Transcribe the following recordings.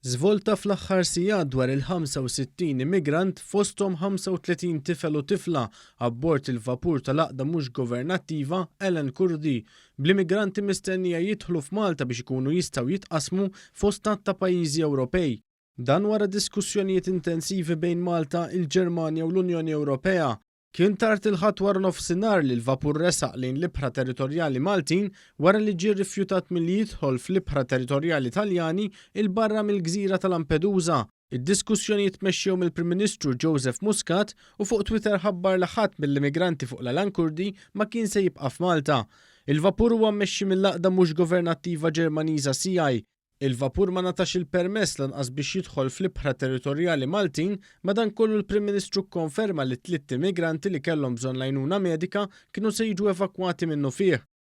Żvolta fl-aħħar sigħat dwar il-65 immigrant, fosthom 35 tifel u tifla, abbord il-vapur tal-għaqda mhux governattiva Ellen Kurdi, bl-immigranti mistennija jidħlu f'Malta biex ikunu jistgħu jitqassmu fost għadd ta' pajjiżi Ewropej. Dan wara diskussjonijiet intensivi bejn Malta, il-Ġermanja u l-Unjoni Ewropea, Kien tard il-Ħadd waranofsinhar li l-vapur resaq lejn l-ibħra territorjali Maltin wara li ġie rrifjutat milli jidħol fl-ibħra territorjali Taljani 'l barra mill-gżira ta' Lampedusa. Id-diskussjonijiet tmexxew mill-Prim Ministru Joseph Muscat u fuq Twitter ħabbar li ħadd mill-immigranti fuq l-Alan Kurdi ma kien se jibqa' f'Malta. Il-vapur huwa mmexxi mill-għaqda mhux governattiva Ġermaniża SEAI, Il-vapur ma ngħatax il-permess lanqas biex jidħol fl-ibħra territorjali Maltin, madankollu l-Prim Ministru kkonferma li t-tlitt immigranti li kellhom bżonn l-għajnuna medika kienu se jiġu evakwati minnufih.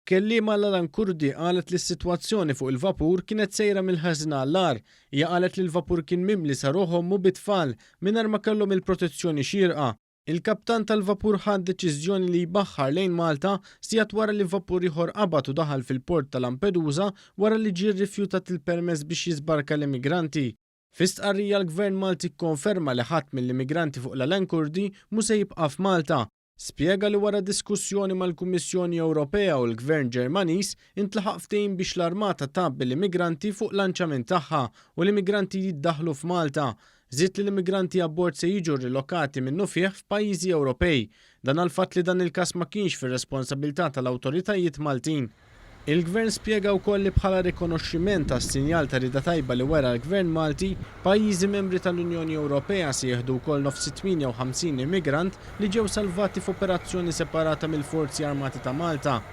Kelliema l-Alan Kurdi qalet li s-sitwazzjoni fuq il-vapur kienet sejra mill-ħażin għall-agħar. Hija qalet li l-vapur kien mimli sa ruħ ommu bit-tfal, mingħajr ma kellhom il-protezzjoni xierqa. Il-kaptan tal-vapur ħa d-deċiżjoni li jbaħħar lejn Malta sigħat wara li vapur ieħor qabad u daħal fil-port ta' Lampedusa wara li ġie rrifjutat il-permess biex jiżbarka l-immigranti. Fi stqarrija l-Gvern Malti kkonferma li ħadd mill-immigranti fuq l-Alain Kurdi mhu se jibqa' f'Malta. Spjega li wara diskussjoni mal-Kummissjoni Ewropea u l-Gvern Ġermaniż intlaħaq ftehim biex l-armata tgħabbi l-immigranti fuq lanċament tagħha u l-immigranti jiddaħħlu f'Malta. Żied li l-immigranti abbord se jiġu rrilokati minnufih f'pajjiżi Ewropej. Dan għall-fatt li dan il-każ ma kienx fir-responsabilità tal-awtoritajiet Maltin. Il-Gvern spjega wkoll li bħala rikonoxximent għas-sinjal ta' rieda tajba li wera l-Gvern Malti, pajjiżi membri tal-Unjoni Ewropea se jieħdu wkoll nofs it-58 immigrant li ġew salvati f'operazzjoni separata mill-Forzi Armati ta' Malta.